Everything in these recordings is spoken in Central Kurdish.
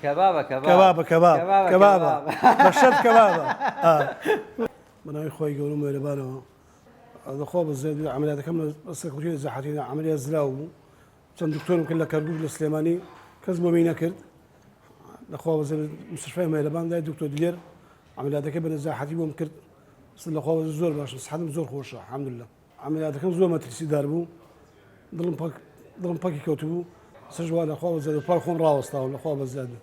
کەبابە کەباب کەبابە کەباب کەبابە کەبابە کەباب بە شەرت کەبابە ئا. بە ناوی خوای گەورە و مێرەبانەوە. دە خوا بە زیاد بێ عەمەلیاتەکەم لە لە سەرکەوتووی زەحەتینا عەمەلیات زراو بوو چەند دکتۆرم کرد لە کەرکوک لە سلێمانی کەس بۆمی نەکرد دە خوا بەزیاد بێت مستشفای مێرەبان لای دکتۆر دلێر عەمەلیاتەکەی بە نەزاحەتی بۆم کرد سڵ لە خوا بەزێ زۆر باشم سحەتم زۆر خۆشە حەمدللە. عەمەلیاتەکەم زۆر مەترسی دار بوو دڵم پەک دڵم پەکی کەوتبوو سەرش وا لەخوا بە زیادە پار خۆم ڕاوەستاوە لەخوا بە زیادە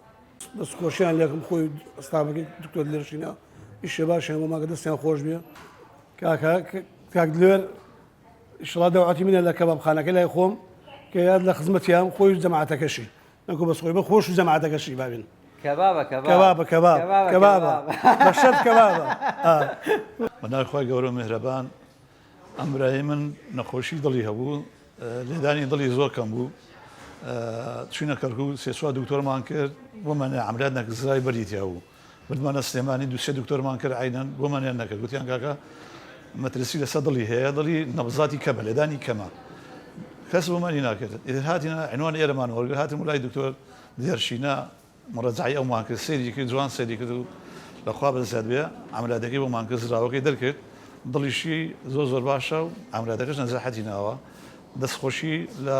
دەست خۆشیان لەکم خۆی ئەستابەکەی دکتۆر لێرشینا ئیشێ باشیان بۆ ماگە دەستیان خۆش بێ کاکە کاک لێر شڵا داواتی منە لە کەبابخانەکە لای خۆم کە یاد لە خزمەتیان خۆی جەماعاتەکەشی نەکو بەس خۆی بە خۆش و جەماعەتەکەشی بابن کەبابە کەبابە کەباب کەبابە بەشەت کەبابە بەناوی خۆی گەورە مهرەبان ئەمرای من نەخۆشی دڵی هەبوو لێدانی دڵی زۆر کەم بوو چینە کەرکوو سێسوا دکتۆرمان کرد بۆ منە ئەمراد نەکزای بەریتیا بوو بردمانە سلێمانی دوو سێ دکتۆرمان کرد عەینەن بۆمانیان نەکرد گوتیان کاکە مەترسی لەسەر دڵی هەیە دڵی نەبزاتی کەمە لێدانی کەمە کەس بۆمانی ناکرد ئیتر هاتینە عینوان ئێرەمان وەرگرت هاتم لای دکتۆر دێرشینە مڕەجعی ئەومان کرد سەیری کرد جوان سەیری کرد و لە خوا بەزیاد بێ عەملیاتەکەی بۆمان کرد زراوەکەی دەرکرد دڵیشی زۆر زۆر باشە و عەملیاتەکەش نەجاحەتی ناوە دەستخۆشی لە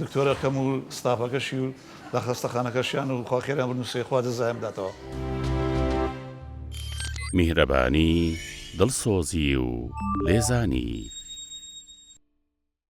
دکتۆرەکەم و ستافەکەشی و لە خەستەخانەکەشیان و خوا خێریان بنوسێ خوا جەزایان بداتەوە. میهرەبانی، دڵسۆزی و لێزانی.